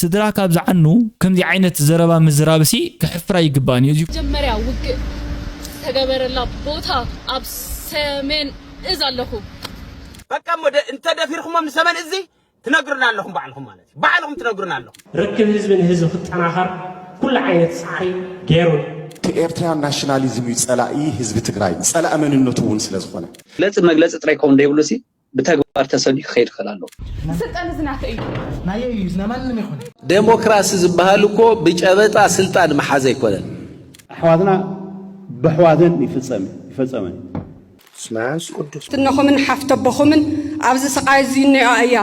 ስድራ ካብ ዝዓኑ ከምዚ ዓይነት ዘረባ ምዝራብሲ ከሕፍራ ኣይግባእን እዩ። መጀመርያ ውግእ ዝተገበረላ ቦታ ኣብ ሰሜን እዝ ኣለኹ። በቃ እሞ እንተ ደፊርኩሞም ንሰመን እዚ ትነግሩና ኣለኹም ባዕልኹም ማለት እዩ ባዕልኹም ትነግሩና ኣለኹም። ርክብ ህዝቢ ንህዝቢ ክጠናኸር ኩሉ ዓይነት ፃዕሪ ገይሩ ኣሎ። እቲ ኤርትራያን ናሽናሊዝም እዩ ጸላኢ ህዝቢ ትግራይ ጸላኢ መንነቱ እውን ስለዝኾነ። መግለጺ መግለጺ ጥራይ ክኸውን ዘይብሉሲ ብተግባር ተሰንዩ ክኸይድ ክኽእል ኣለዎ። እዚ ስልጣን እዚ ናተይ እዩ። ናየይ እዩ እዚ ናይ ማንም ኣይኮነን። ዴሞክራሲ ዝብሃል እኮ ብጨበጣ ስልጣን ምሓዝ ኣይኮነን። ኣሕዋትና በሕዋተን ይፍጸም ይፈጸመን። ስመንስ ቅዱስ። ትነኹምን ሓፍተቦኹምን ኣብዚ ስቓይ እዚ እኔኦ ኣያ።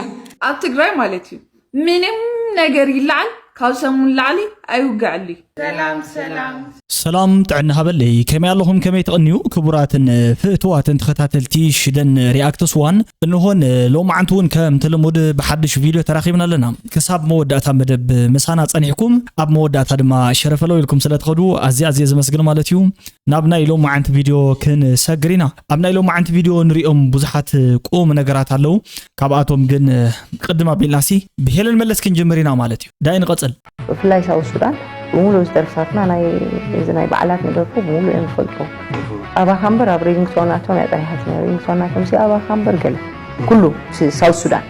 ኣብ ትግራይ ማለት እዩ ምንም ነገር ይለዓል ካብ ሰሙን ንላዕሊ ኣይውገዐሉ እዩ። ሰላም ሰላም ሰላም ጥዕና ሃበለይ ከመይ ኣለኹም ከመይ ትቕንዩ ክቡራትን ፍእትዋትን ተኸታተልቲ ሽደን ሪኣክትስ ዋን እንሆን ሎማዓንቲ እውን ከምቲ ልሙድ ብሓድሽ ቪድዮ ተራኺብና ኣለና ክሳብ መወዳእታ መደብ ምሳና ጸኒሕኩም ኣብ መወዳእታ ድማ ሸረፈለው ኢልኩም ስለትኸዱ ኣዝየ ኣዝየ ዘመስግን ማለት እዩ ናብ ናይ ሎማዓንቲ ቪድዮ ክንሰግር ኢና። ኣብ ናይ ሎማዓንቲ ቪድዮ ንሪኦም ብዙሓት ቁም ነገራት ኣለዉ። ካብኣቶም ግን ቅድም ኣቢልናሲ ብሄለን መለስ ክንጅምር ኢና ማለት እዩ። ዳይ ንቐጽል። ብፍላይ ሳውት ሱዳን ብምሉእ እዚ ደርፍታትና ናይ እዚ ናይ በዓላት ንደርፉ ብምሉእ እዮም ዝፈልጡ ኣባኻ እምበር ኣብ ሪንግቶናቶም እያ ጠሪሓት ነይሩ ሪንግቶናቶም ሲ ኣባኻ እምበር ገለ ኩሉ ሳውት ሱዳን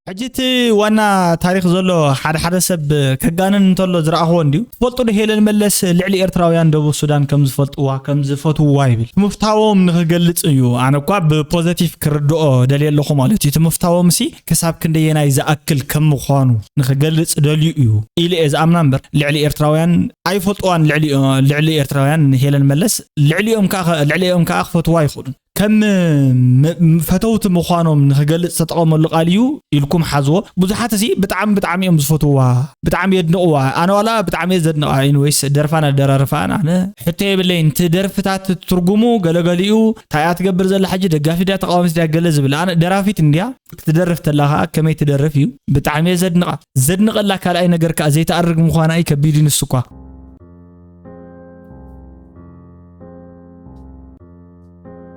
ሕጂ እቲ ዋና ታሪክ ዘሎ ሓደ ሓደ ሰብ ከጋንን እንተሎ ዝረኣኽዎ እንድዩ ትፈልጡ ዶ ሄለን መለስ ልዕሊ ኤርትራውያን ደቡብ ሱዳን ከም ዝፈልጥዋ ከም ዝፈትውዋ ይብል ምፍታዎም ንክገልጽ እዩ ኣነ እኳ ብፖዘቲቭ ክርድኦ ደልየ ኣለኹ ማለት እዩ እቲ ምፍታዎም ሲ ክሳብ ክንደየናይ ዝኣክል ከም ምዃኑ ንኽገልጽ ደልዩ እዩ ኢለ እየ ዝኣምና እምበር ልዕሊ ኤርትራውያን ኣይፈልጥዋን ልዕሊ ልዕሊ ኤርትራውያን ንሄለን መለስ ልዕሊኦም ከኣ ልዕሊኦም ከኣ ክፈትዋ ይኽእሉን ከም ፈተውቲ ምዃኖም ንኽገልጽ ዝተጠቐመሉ ቃል እዩ ኢልኩም ሓዝዎ ብዙሓት እዚ ብጣዕሚ ብጣዕሚ እዮም ዝፈትውዋ ብጣዕሚ የድንቕዋ ኣነ ዋላ ብጣዕሚ እየ ዘድንቓ ኢንወይስ ደርፋን ኣደራርፋን ኣነ ሕቶ የብለይን እቲ ደርፍታት ትርጉሙ ገለገሊኡ ታይ እያ ትገብር ዘላ ሕጂ ደጋፊት ድያ ተቃዋሚት ድያ ገለ ዝብል ኣነ ደራፊት እንድያ ክትደርፍ ተላ ከኣ ከመይ ትደርፍ እዩ ብጣዕሚ እየ ዘድንቃ ዘድንቀላ ካልኣይ ነገር ከኣ ዘይትኣርግ ምኳና እዩ ከቢድ ንሱ እኳ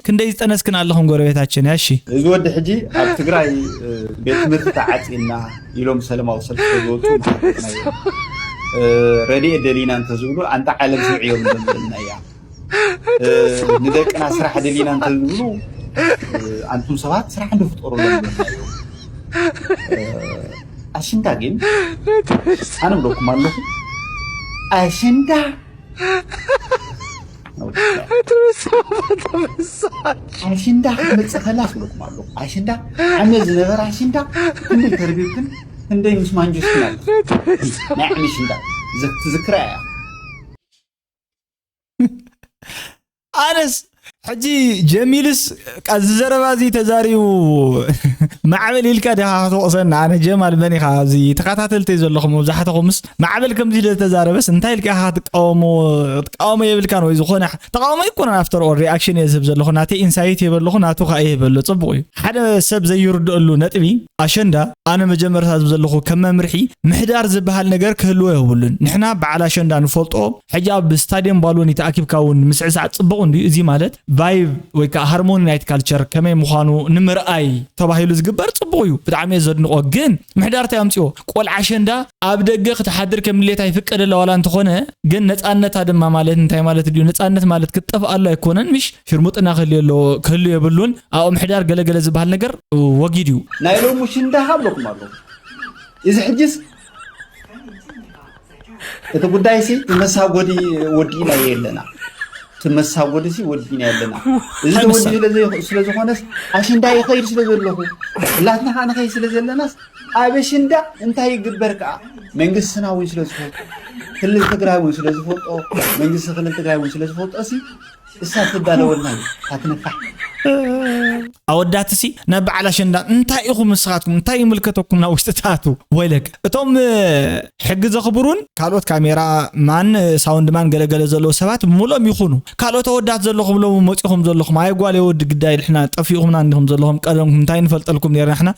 ክንደይ ዝጠነስክን ኣለኹም ጎረቤታችን እያ እሺ እዚ ወዲ ሕጂ ኣብ ትግራይ ቤት ትምህርቲ ተዓፂና ኢሎም ሰለማዊ ሰልፊ ዝወፁ ረድኤት ደሊና እንተዝብሉ ኣንታ ዓለም ስምዒ እዮም ደምና እያ ንደቅና ስራሕ ደሊና እንተዝብሉ ኣንቱም ሰባት ስራሕ እንድፍጠሩ ኣለናዮም ኣሽንዳ ግን ኣነ ብለኩም ኣለኹ ኣሽንዳ ኣሽንዳ ክመፅእ ከላ ክብለኩም ኣለኹ ኣሽንዳ ዓመት ዝነበረ ኣሽንዳ ክንደይ ተርቢብክን ክንደይ ምስ ማንጆስክን ኣለ ናይ ዓመት ሽንዳ ትዝክራ እያ ኣነስ ሕጂ ጀሚልስ እዚ ዘረባ እዚ ተዛሪቡ ማዕበል ኢልካ ዲኻ ክትወቕሰና ኣነ ጀማል መን ኢኻ እዚ ተኸታተልቲ ዘለኹም መብዛሕትኹምስ ማዕበል ከምዚ ኢለ ዝተዛረበስ እንታይ ኢልካ ኢኻ ክትቃወሞ ክትቃወሞ የብልካን ወይ ዝኾነ ተቃውሞ ኣይኮነን ኣፍተር ኦል ሪኣክሽን እየ ዝህብ ዘለኹ ናተይ ኢንሳይት የበለኹ ናቱ ከዓ ይህበሉ ፅቡቅ እዩ ሓደ ሰብ ዘይርድአሉ ነጥቢ ኣሸንዳ ኣነ መጀመርታ ዝብ ዘለኹ ከም መምርሒ ምሕዳር ዝበሃል ነገር ክህልዎ የብሉን ንሕና በዓል ኣሸንዳ ንፈልጦ ሕጂ ኣብ ስታድየም ባሎኒ ተኣኪብካ እውን ምስዕሳዕ ጽቡቕ እንድዩ እዚ ማለት ቫይብ ወይ ከዓ ሃርሞኒ ናይት ካልቸር ከመይ ምዃኑ ንምርኣይ ተባሂሉ ዝግበር ጽቡቕ እዩ ብጣዕሚ እየ ዘድንቖ ግን ምሕዳር እንታይ ኣምጽኦ ቆልዓ ኣሸንዳ ኣብ ደገ ክትሓድር ከም ድሌታ ይፍቀደላ ዋላ እንተኾነ ግን ነጻነታ ድማ ማለት እንታይ ማለት ድዩ ነጻነት ማለት ክትጠፍኣሉ ኣይኮነን ምሽ ሽርሙጥና ክህልዮ ኣለዎ ክህሉ የብሉን ኣብ ምሕዳር ገለ ገለ ዝበሃል ነገር ወጊድ እዩ። ናይ ሎሚ ሽንዳ ካብለኩም ኣለኹ እዚ ሕጅስ እቲ ጉዳይ ሲ መሳጎዲ ወዲእና የለና እቲ መሳጎዲ ሲ ወዲእና የለና እዚ ተወዲ ስለ ዝኾነስ ኣሽንዳ ይኸይድ ስለ ዘለኹ እላትና ከዓ ንኸይድ ስለ ዘለናስ ኣብ ኣሽንዳ እንታይ ይግበር ከዓ መንግስትና እውን ስለ ዝፈልጦ ክልል ትግራይ እውን ስለ ዝፈልጦ መንግስቲ ክልል ትግራይ እውን ስለ ዝፈልጦ ሲ እሳ ትዳለወልና እዩ እታ ትነፋሕ ኣወዳትሲ ናብ በዓል ኣሸንዳ እንታይ ኢኹም ንስኻትኩም እንታይ ይምልከተኩም ናብ ውሽጢ ትኣቱ ወይለክ እቶም ሕጊ ዘኽብሩን ካልኦት ካሜራ ማን ሳውንድ ማን ገለገለ ዘለዎ ሰባት ሙሎም ይኹኑ ካልኦት ኣወዳት ዘለኹም ሎ መፂኹም ዘለኹም ኣይ ጓል የወዲ ግዳይ ልሕና ጠፊኡኹምና እንዲኹም ዘለኹም ቀደምኩም እንታይ ንፈልጠልኩም ነርና ሕና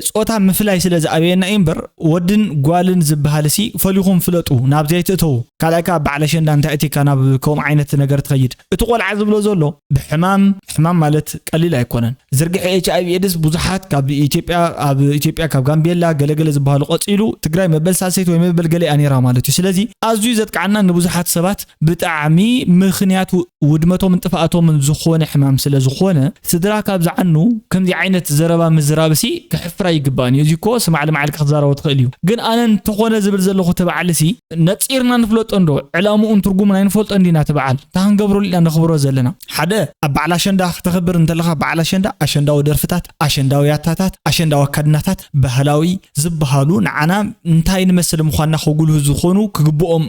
ጾታ ምፍላይ ስለ ዝኣበየና እዩ እምበር ወድን ጓልን ዝበሃልሲ ፈሊኹም ፍለጡ ናብዚ ኣይትእተዉ ካልኣይ ከዓ በዓል ኣሸንዳ እንታይ እቲካ ናብ ከምኡ ዓይነት ነገር ትኸይድ እቲ ቆልዓ ዝብሎ ዘሎ ብሕማም ሕማም ማለት ቀሊል ኣይኮነን ዝርግሐ ኤች ኣይቪ ኤድስ ብዙሓት ካብ ኢትዮጵያ ኣብ ኢትዮጵያ ካብ ጋምቤላ ገለገለ ዝበሃሉ ቀፂሉ ትግራይ መበል ሳልሰይቲ ወይ መበል ገለ እያ ነይራ ማለት እዩ ስለዚ ኣዝዩ ዘጥቃዓና ንብዙሓት ሰባት ብጣዕሚ ምኽንያት ውድመቶምን ጥፍኣቶምን ዝኾነ ሕማም ስለዝኾነ ስድራ ካብ ዝዓኑ ከምዚ ዓይነት ዘረባ ምዝራብሲ ከሕፍር ኣይግባእን እዩ። እዚ እኮ ስማዕ ልማዕልካ ክትዛረቦ ትኽእል እዩ። ግን ኣነ እንተኾነ ዝብል ዘለኹ እቲ በዓልሲ ነጺርና ንፍለጦ እንዶ ዕላምኡን ትርጉሙን ኣይንፈልጦ እንዲና እቲ በዓል እንታይ ክንገብረሉ ኢና ነኽብሮ ዘለና ሓደ ኣብ በዓል ኣሸንዳ ክተኽብር እንተለኻ በዓል ኣሸንዳ ኣሸንዳዊ ደርፍታት ኣሸንዳዊ ያታታት ኣሸንዳዊ ኣካድናታት ባህላዊ ዝበሃሉ ንዓና እንታይ ንመስል ምዃንና ከጉልሁ ዝኾኑ ክግብኦም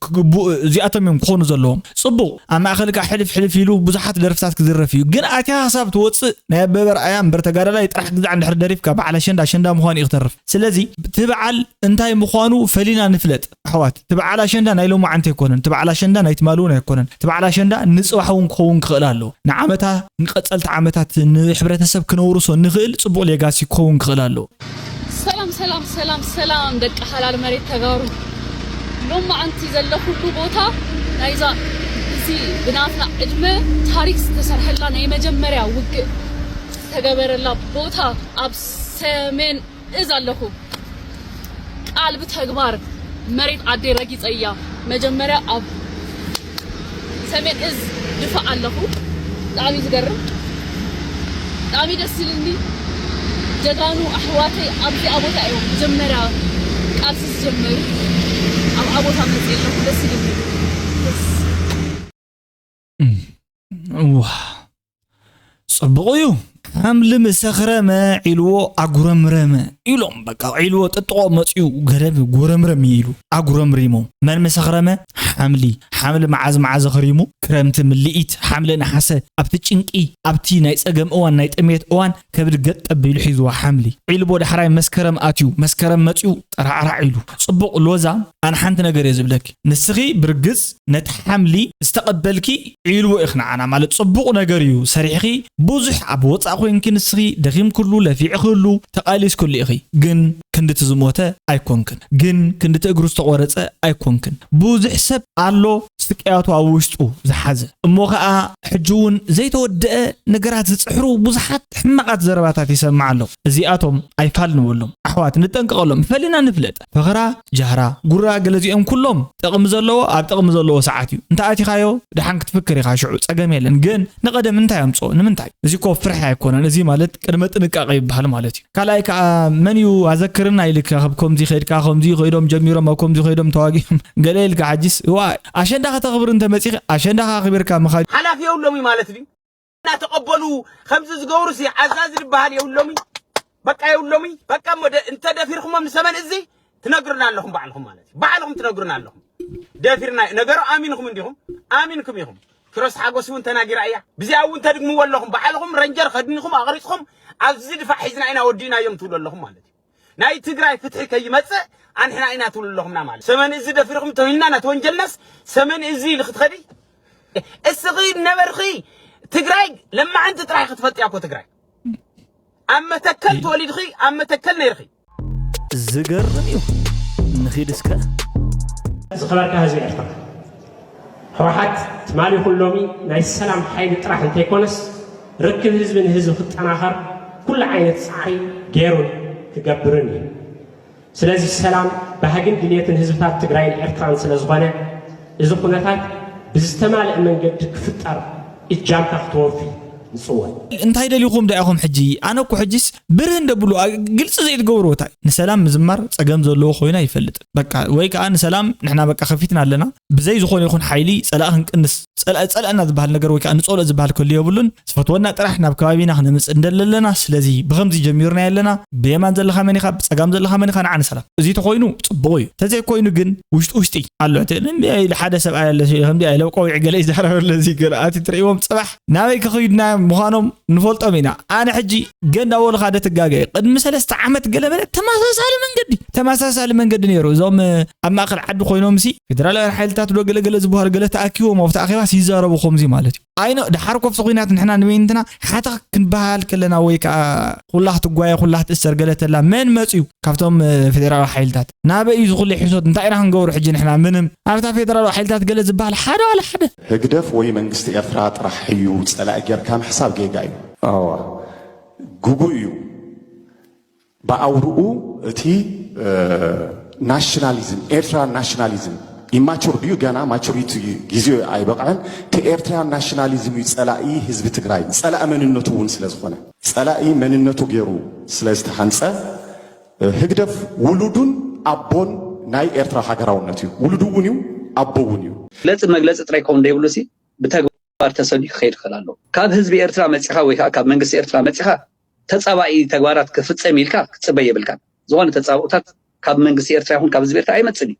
ክግቡእ እዚኣቶም እዮም ክኾኑ ዘለዎም። ጽቡቕ ኣብ ማእከል ከኣ ሕልፍ ሕልፍ ኢሉ ብዙሓት ደርፍታት ክድረፍ እዩ ግን ኣትያ ክሳብ ትወጽእ ናይ ኣበበ ኣርኣያ እምበር ተጋዳላይ ጥራሕ ግዛዕ እንድሕር ደሪፍካ በዓል ኣሸንዳ ኣሸንዳ ምዃኑ እዩ ክተርፍ ስለዚ እቲ በዓል እንታይ ምዃኑ ፈሊና ንፍለጥ ኣሕዋት እቲ በዓል ኣሸንዳ ናይ ሎማዓንቲ ኣይኮነን እቲ በዓል ኣሸንዳ ናይ ትማሊ እውን ኣይኮነን እቲ በዓል ኣሸንዳ ንጽባሕ እውን ክኸውን ክኽእል ኣለዎ ንዓመታ ንቀጸልቲ ዓመታት ንሕብረተሰብ ክነውርሶ ንኽእል ጽቡቕ ሌጋሲ ክኸውን ክኽእል ኣለዎ። ሰላም ሰላም ሰላም ሰላም ደቂ ሓላል መሬት ተጋሩ ሎማዓንቲ ዘለኹሉ ቦታ ናይዛ እዚ ብናትና ዕድመ ታሪክ ዝተሰርሐላ ናይ መጀመርያ ውግእ ዝተገበረላ ቦታ ኣብ ሰሜን እዝ ኣለኹ ቃል ብተግባር መሬት ዓደይ ረጊፀያ መጀመርያ ኣብ ሰሜን እዝ ድፋእ ኣለኹ ብጣዕሚ ዝገርም ብጣዕሚ ደስ ዝልኒ ጀጋኑ ኣሕዋተይ ኣብዚ ኣቦታ እዮም መጀመርያ ቃልሲ ዝጀመሩ ኣብ ኣቦታ መፅእ ኣለኹ ደስ ይልኒ ጽቡቕ እዩ ከም ልምሰኽረመ ዒልዎ ኣጉረምረመ ኢሎም በቃ ዒልዎ ጥጥቆ መፅኡ ገረብ ጎረምረም ኢሉ ኣጉረምሪሞ መን ምሰኽረመ ሓምሊ ሓምሊ መዓዝ መዓዝ ኽሪሙ ክረምቲ ምልኢት ሓምለ ነሓሰ ኣብቲ ጭንቂ ኣብቲ ናይ ፀገም እዋን ናይ ጥሜት እዋን ከብድ ገጥ ኣቢሉ ሒዝዋ ሓምሊ ዒልቦ ዳሕራይ መስከረም ኣትዩ መስከረም መጺኡ ጠራዕራዕ ኢሉ ጽቡቕ ሎዛ ኣነ ሓንቲ ነገር እየ ዝብለኪ ንስኺ ብርግጽ ነቲ ሓምሊ ዝተቐበልኪ ዒልቦ ኢኺ ንዓና ማለት ጽቡቕ ነገር እዩ ሰሪሕኺ ብዙሕ ኣብ ወጻእ ኮይንኪ ንስኺ ደኺምክሉ ለፊዕኽሉ ተቓሊስክሉ ኢኺ ግን ክንዲ እቲ ዝሞተ ኣይኮንክን ግን ክንዲ እቲ እግሩ ዝተቆረጸ ኣይኮንክን ብዙሕ ሰብ ኣሎ ስቅያቱ ኣብ ውሽጡ ዝሓዘ እሞ ከኣ ሕጂ እውን ዘይተወደኣ ነገራት ዝጽሕሩ ብዙሓት ሕማቃት ዘረባታት ይሰምዕ ኣለኹ እዚኣቶም ኣይፋል ንበሎም ኣሕዋት ንጠንቀቀሎም ፈሊና ንፍለጥ ፈኽራ ጃህራ ጉራ ገለዚኦም ኩሎም ጥቅሚ ዘለዎ ኣብ ጥቅሚ ዘለዎ ሰዓት እዩ እንተ ኣቲኻዮ ደሓን ክትፍክር ኢኻ ሽዑ ጸገም የለን ግን ንቀደም እንታይ ኣምጽኦ ንምንታይ እዚ እኮ ፍርሒ ኣይኮነን እዚ ማለት ቅድመ ጥንቃቀ ይበሃል ማለት እዩ ካልኣይ ከኣ መን እዩ ኣዘክርና ኢልካ ካብ ከምዚ ከድካ ከምዚ ከይዶም ጀሚሮም ኣብ ከምዚ ከይዶም ተዋጊኦም ገለ ኢልካ ሓጂስ እዋእ ኣሸንዳ ከተኽብር እንተ መጺኻ ኣሸንዳ ከኣ ኣኽቢርካ ምኻድ ሓላፊ የብሎምይ ማለት ድዩ እናተቐበሉ ከምዚ ዝገብሩሲ ዓዛዚ ዝበሃል የብሎምይ በቃ የብሎምይ በቃ እሞ እንተ ደፊርኩሞም ንሰበን እዚ ትነግሩና ኣለኹም ባዕልኹም ማለት እዩ ባዕልኹም ትነግሩና ኣለኹም ደፊርና ነገሩ ኣሚንኹም እንዲኹም ኣሚንኩም ኢኹም ኪሮስ ሓጎስ እውን ተናጊራ እያ ብዚኣ እውን ተድግምዎ ኣለኹም ባዕልኹም ረንጀር ከድኒኹም ኣቕሪፅኹም ኣብዚ ድፋዕ ሒዝና ኢና ወዲእናዮም ትብሉ ኣለኹም ማለት እዩ ናይ ትግራይ ፍትሒ ከይመፅእ ኣንሕና ኢና ትብሉ ኣለኹምና ማለት ሰመን እዚ ደፊርኹም ተውሂልና ናት ወንጀልናስ ሰመን እዚ ኢልኺ ትኸዲ እስኺ ነበርኺ ትግራይ ለማዕንቲ ጥራሕ ክትፈልጥያ እኮ ትግራይ ኣብ መተከል ተወሊድኺ ኣብ መተከል ነይርኺ ዝገርም እዩ ንኺድ እስከ ዝኸበርካ ህዝቢ ኤርትራ ህወሓት ትማሊ ይኹን ሎሚ ናይ ሰላም ሓይሊ ጥራሕ እንተይኮነስ ርክብ ህዝቢ ንህዝቢ ክጠናኸር ኩሉ ዓይነት ፃዕሪ ገይሩን ክገብርን እዩ ስለዚ ሰላም ባህግን ድልየትን ህዝብታት ትግራይን ኤርትራን ስለ ዝኾነ እዚ ኩነታት ብዝተማለእ መንገዲ ክፍጠር እጃምካ ክተወፊ ንጽወት። እንታይ ደሊኹም ዳኣ ኢኹም ሕጂ ኣነ እኮ ሕጂስ ብርህ እንደ ብሉ ግልጺ ዘይትገብርዎ ታይ እዩ ንሰላም ምዝማር ጸገም ዘለዎ ኮይኑ ኣይፈልጥን በቃ ወይ ከኣ ንሰላም ንሕና በቃ ከፊትና ኣለና ብዘይ ዝኾነ ይኹን ሓይሊ ጸላኢ ክንቅንስ ጸላኢ ጸላእና ዝበሃል ነገር ወይ ከኣ ንጸልኦ ዝበሃል ከሉ የብሉን ዝፈትወና ጥራሕ ናብ ከባቢና ክነምጽእ እንደሊ ኣለና ስለዚ ብከምዚ ጀሚርናዮ ኣለና ብየማን ዘለካ መን ኢካ ብጸጋም ዘለካ መን ኢካ ንዓ ንሰላም እዚ ተኮይኑ ጽቡቅ እዩ ተዘይ ኮይኑ ግን ውሽጢ ውሽጢ ኣሎ እቲ እንዲ ኢሉ ሓደ ሰብኣይ ኣሎ ከምዚ ኢለ ቆዊዕ ገለ ይዛረብ ኣሎ እዚ ገለ ኣቲ ትርእዎም ጽባሕ ናበይ ክክይድና ምዃኖም ንፈልጦም ኢና ኣነ ሕጂ ገንዳ ወልካ ደ ትጋገ ቅድሚ ሰለስተ ዓመት ገለ መለ ተመሳሳሊ መንገዲ ተመሳሳሊ መንገዲ ነይሩ እዞም ኣብ ማእከል ዓዲ ኮይኖም ሲ ፌደራላውያን ሓይልታት ዶ ገለገለ ዝበሃሉ ገለ ተኣኪቦም ኣብቲ ኣኼባስ ይዛረቡ ከምዚ ማለት እዩ ኣይኖ ደሓር ኮፍቲ ኩናት ንሕና ንበይንትና ሓተኽ ክንበሃል ከለና ወይ ከዓ ኩላኽ ትጓየ ኩላኽ ትእሰር ገለ ተላ መን መፅዩ ካብቶም ፌደራላዊ ሓይልታት ናበይ እዩ ዝኹሉ ሕሶት እንታይ ኢና ክንገብሩ ሕጂ ንሕና ምንም ኣብታ ፌደራላዊ ሓይልታት ገለ ዝበሃል ሓደ ዋላ ሓደ ህግደፍ ወይ መንግስቲ ኤርትራ ጥራሕ እዩ ፀላኢ ጌርካ ምሕሳብ ጌጋ እዩ ኣዋ ግጉይ እዩ ብኣውርኡ እቲ ናሽናሊዝም ኤርትራ ናሽናሊዝም ኢማቹር ድዩ ገና ማቹሪቲ ግዜኡ ኣይበቕዐን እቲ ኤርትራ ናሽናሊዝም እዩ ጸላኢ ህዝቢ ትግራይ ጸላኢ መንነቱ እውን ስለ ዝኾነ ጸላኢ መንነቱ ገይሩ ስለ ዝተሃንጸ ህግደፍ ውሉዱን ኣቦን ናይ ኤርትራ ሃገራውነት እዩ ውሉዱ እውን እዩ ኣቦ እውን እዩ መግለጺ መግለጺ ጥራይ ክኸውን ዘይብሉ ሲ ብተግባር ተግባር ተሰልዩ ክኸይድ ይኽእል ኣሎ። ካብ ህዝቢ ኤርትራ መጺኻ ወይ ከኣ ካብ መንግስቲ ኤርትራ መጺኻ ተጻባኢ ተግባራት ክፍጸም ኢልካ ክትጽበ የብልካን። ዝኾነ ተጻብኦታት ካብ መንግስቲ ኤርትራ ይኹን ካብ ህዝቢ ኤርትራ ኣይመጽእን እዩ።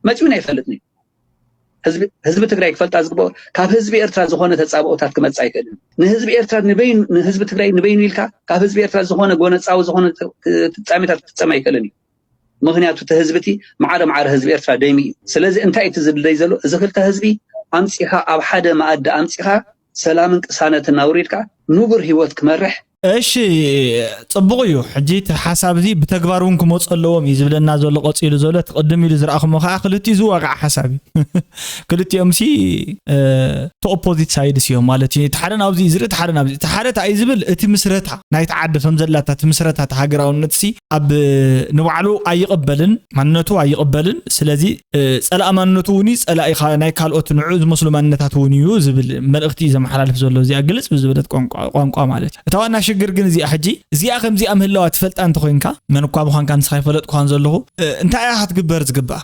መጺኡን ኣይፈልጥን እዩ። ህዝቢ ህዝቢ ትግራይ ክፈልጣ ዝግበኦ ካብ ህዝቢ ኤርትራ ዝኾነ ተጻብኦታት ክመጽእ ኣይክእልን። ንህዝቢ ኤርትራ ንበይኑ ንህዝቢ ትግራይ ንበይኑ ኢልካ ካብ ህዝቢ ኤርትራ ዝኾነ ጎነጻዊ ዝኾነ ፍጻሜታት ክፍጸም ኣይክእልን እዩ። ምክንያቱ እቲ ህዝቢ እቲ ማዕረ ማዕረ ህዝቢ ኤርትራ ደሚ እዩ ስለዚ እንታይ እቲ ዝድለይ ዘሎ እዚ ክልተ ህዝቢ ኣምፂኻ ኣብ ሓደ መኣዲ ኣምፂኻ ሰላምን ቅሳነትን ኣውሪድካ ንቡር ህይወት ክመርሕ እሺ ጽቡቕ እዩ ሕጂ እቲ ሓሳብ እዚ ብተግባር እውን ክመፁ ኣለዎም እዩ ዝብለና ዘሎ ቀፂሉ ዘሎ እቲ ቅድም ኢሉ ዝረኣኹሞ ከዓ ክልቲኡ ዝዋጋዕ ሓሳብ እዩ ክልቲኦም ሲ እቲ ኦፖዚት ሳይድስ እዮም ማለት እዩ እቲ ሓደ ናብዚ እዩ ዝርኢ እቲ ሓደ ናብዚ እቲ ሓደ እንታይ እዩ ዝብል እቲ ምስረታ ናይቲ ዓዲ ከም ዘላታ እቲ ምስረታ እቲ ሃገራውነት ሲ ኣብ ንባዕሉ ኣይቕበልን ማንነቱ ኣይቕበልን ስለዚ ፀላእ ማንነቱ እውን እዩ ፀላኢ ናይ ካልኦት ንዑ ዝመስሉ ማንነታት እውን እዩ ዝብል መልእኽቲ እዩ ዘመሓላልፍ ዘሎ እዚኣ ግልፅ ብዝበለት ቋንቋ ማለት እዩ እታ ዋና ሽግር ግን እዚኣ ሕጂ እዚኣ ከምዚኣ ምህላዋ ትፈልጣ እንተኮይንካ መን እኳ ምዃንካ ንስኻ ይፈለጥኩኻን ዘለኹ እንታይ እያ ክትግበር ዝግባእ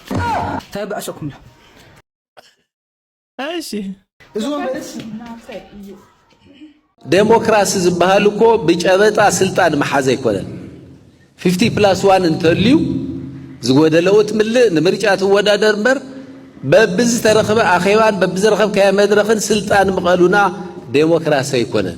ታይ ኣበኣሰኩም ዶ እሺ እዚ ወንበርስ ዴሞክራሲ ዝበሃል እኮ ብጨበጣ ስልጣን ምሓዝ ኣይኮነን። ፊፍቲ ፕላስ ዋን እንተልዩ ዝጎደለኡ ትምልእ ንምርጫ ትወዳደር እምበር በብዝተረኽበ ኣኼባን በብዝረኸብካዮ መድረኽን ስልጣን ምቐሉና ዴሞክራሲ ኣይኮነን።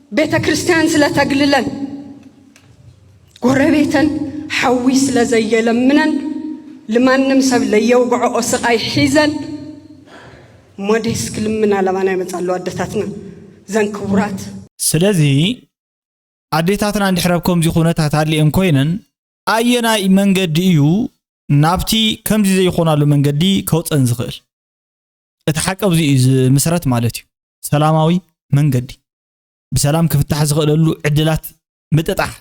ቤተ ክርስቲያን ስለ ተግልለን ጎረቤተን ሓዊ ስለ ዘየለምነን ልማንም ሰብ ለየውግዐኦ ስቃይ ሒዘን ሞዴስ ክልምና ለባና ይመፃ ኣለዋ ኣደታትና ዘን ክቡራት ስለዚ ኣዴታትና እንድሕር ኣብ ከምዚ ኩነታት ኣሊኤን ኮይነን ኣየናይ መንገዲ እዩ ናብቲ ከምዚ ዘይኮናሉ መንገዲ ከውፀን ዝኽእል እቲ ሓቂ ኣብዚ እዩ ዝምስረት ማለት እዩ። ሰላማዊ መንገዲ ብሰላም ክፍታሕ ዝኽእለሉ ዕድላት ምጥጣሕ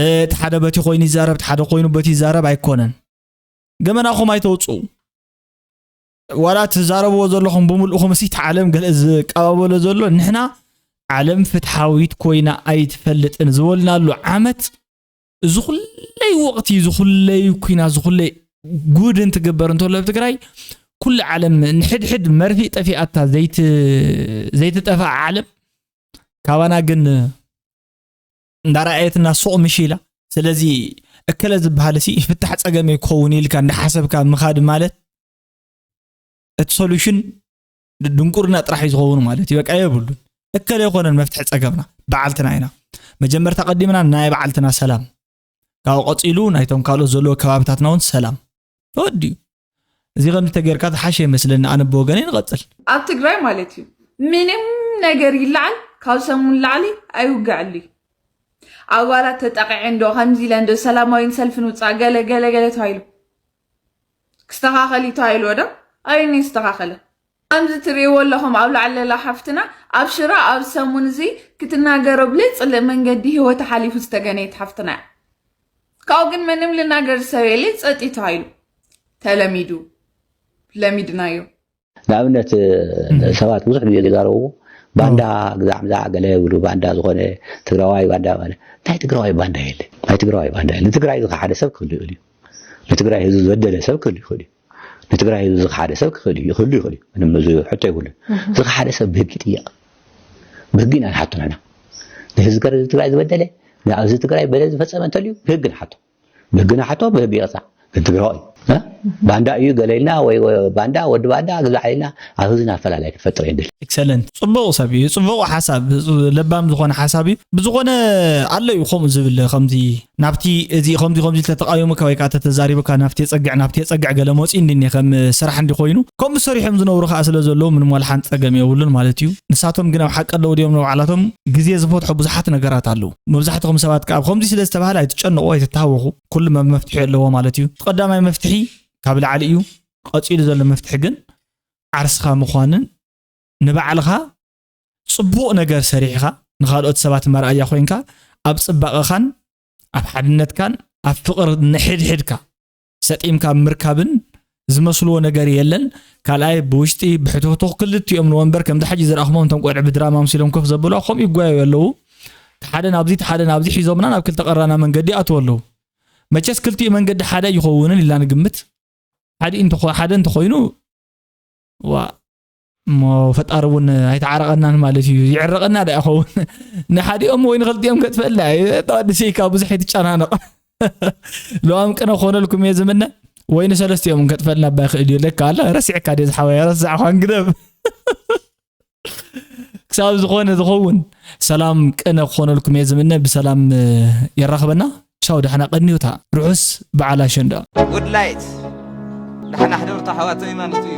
እቲ ሓደ በቲ ኮይኑ ይዛረብ እቲ ሓደ ኮይኑ በቲ ይዛረብ ኣይኮነን። ገመናኹም ኣይተውፅኡ ዋላ ትዛረብዎ ዘለኹም ብምልእኹም እሲ ዓለም ገለ ዝቀባበሎ ዘሎ ንሕና ዓለም ፍትሓዊት ኮይና ኣይትፈልጥን ዝበልናሉ ዓመት እዚ ኩለይ ወቕቲ እዚ ኩለይ ኩና እዚ ኩለይ ጉድ እንትግበር እንተሎ ኣብ ትግራይ ኩሉ ዓለም ንሕድሕድ መርፊ ጠፊኣታ ዘይትጠፍኣ ዓለም ካባና ግን እንዳረኣየትና ሱቕ ምሽ ኢላ ስለዚ እከለ ዝበሃል ሲ ፍታሕ ፀገመይ ክኸውን ኢልካ እንዳሓሰብካ ምኻድ ማለት እቲ ሶሉሽን ድንቁርና ጥራሕ እዩ ዝኸውን ማለት እዩ በቃ የብሉን እከለ ይኮነን መፍትሒ ፀገምና በዓልትና ኢና መጀመርታ ቀዲምና ናይ በዓልትና ሰላም ካብኡ ቀፂሉ ናይቶም ካልኦት ዘለዎ ከባቢታትና እውን ሰላም ተወዲኡ እዚ ከምዚ ተገይርካ ዝሓሸ ይመስለኒ ኣነ ብወገነይ ንቐፅል ኣብ ትግራይ ማለት እዩ ምንም ነገር ይለዓል ካብ ሰሙን ላዕሊ ኣይውግዐሉ እዩ ኣባላት ተጠቂዐ እንዶ ከምዚ ኢለ እንዶ ሰላማዊን ሰልፍን ውፃእ ገለ ገለ ገለ ተባሂሉ ክስተኻኸል እዩ ተባሂልዎ ዶ ኣበየን እዩ ዝተኻኸለ? ከምዚ ትርእይዎ ኣለኹም ኣብ ላዕሊ ዘላ ሓፍትና ኣብ ሽረ ኣብ ሰሙን እዚ ክትናገሮ ብለይጽልእ መንገዲ ህይወታ ሓሊፉ ዝተገነየት ሓፍትና እያ። ካብኡ ግን ምንም ልናገር ዝሰብ የለይ ጸጥ እዩ ተባሂሉ ተለሚዱ ለሚድናዮ። ንኣብነት ሰባት ብዙሕ ግዜ ዝዛረቡ ባንዳ ግዛዕ ምዛዕ ገለ ይብሉ ባንዳ ዝኾነ ትግራዋይ ባንዳ ማለት ናይ ትግራዋይ ባንዳ የለ ናይ ትግራዋይ ባንዳ የለ ንትግራይ ዝኸሓደ ሰብ ክህሉ ይኽእል እዩ ንትግራይ ህዝቢ ዝበደለ ሰብ ክህሉ ይኽእል እዩ ንትግራይ ህዝቢ ዝኸሓደ ሰብ ክህሉ ይኽእል እዩ ምንም እዚ ሕቶ ይብሉ ዝኸሓደ ሰብ ብህጊ ጥየቕ ብህጊ ኢና ንሓቶ ንሕና ንህዝቢ ትግራይ ዝበደለ ንኣብዚ ትግራይ በደል ዝፈፀመ እንተልዩ ብህጊ ንሓቶ ደግና ሓቶ ብቢቕጻ ክትብዕቕ እዩ ባንዳ እዩ ገለ ኢልና ወይ ባንዳ ወዲ ባንዳ ግዛዕ ኢልና ኣብ ህዝብና ኣፈላላይ ክትፈጥር እየ ድል ኤክሰለንት ጽቡቕ ሰብ እዩ ጽቡቕ ሓሳብ ለባም ዝኾነ ሓሳብ እዩ ብዝኾነ ኣሎ እዩ ከምኡ ዝብል ከምዚ ናብቲ እዚ ከምዚ ከምዚ ተተቃዊሙካ ወይ ከዓ ተተዛሪቡካ ናብቲ የጸግዕ ናብቲ የጸግዕ ገለ መጺኡ እንዲኒ ከም ስራሕ እንዲ ኮይኑ ከምኡ ሰሪሖም ዝነብሩ ከዓ ስለ ዘለዉ ምንም ዋልሓን ጸገም የብሉን ማለት እዩ ንሳቶም ግን ኣብ ሓቂ ኣለዉ ድዮም ንባዕላቶም ግዜ ዝፈትሖ ብዙሓት ነገራት ኣለዉ መብዛሕትኹም ሰባት ከኣ ከምዚ ስለ ዝተባህለ ኣይትጨንቑ ኣይትታሃወኹ ኩሉ መፍትሒ ኣለዎ ማለት እዩ እቲ ቀዳማይ መፍትሒ ካብ ላዕሊ እዩ ቀፂሉ ዘሎ መፍትሒ ግን ዓርስኻ ምዃንን ንባዕልኻ ፅቡቕ ነገር ሰሪሕኻ ንካልኦት ሰባት መርኣያ ኮይንካ ኣብ ፅባቐኻን ኣብ ሓድነትካን ኣብ ፍቕሪ ንሕድሕድካ ሰጢምካ ምርካብን ዝመስልዎ ነገር የለን ካልኣይ ብውሽጢ ብሕትኽቱኽ ክልቲኦም ንወንበር ከምዚ ሕጂ ዝረኣኹሞም እቶም ቆልዑ ብድራማ ኣምሲሎም ኮፍ ዘብሉ ከምኡ ይጓየዩ ኣለዉ ሓደ ናብዚ ሓደ ናብዚ ሒዞምና ናብ ክልተ ቀራና መንገዲ ኣትዉ ኣለዉ መቸስ ክልቲኡ መንገዲ ሓደ ይኸውንን ኢልና ንግምት ሓደ እንተኾይኑ ዋ እሞ ፈጣሪ እውን ኣይተዓረቐናን ማለት እዩ ይዕረቐና ዳ ይኸውን ንሓዲኦም ወይ ንክልቲኦም ከጥፈላ ተዋድሰይካ ብዙሕ ኣይትጨናነቕ ለዋም ቅነ ክኾነልኩም እየ ዝምነ ወይ ንሰለስቲኦም ከጥፈልና ባ ይኽእል እዩ ለካ ኣላ ረሲዕካ ድየ ዝሓወያ ረሳዕኳን ግደብ ክሳብ ዝኾነ ዝኸውን ሰላም ቅነ ክኾነልኩም እየ ዝምነ ብሰላም የራኽበና ቻው ዳሕና ቀኒውታ ርሑስ በዓል ኣሸንዳ ውድላይት ዳሕና ሕደርታ ኣሕዋተይ ማለት እዩ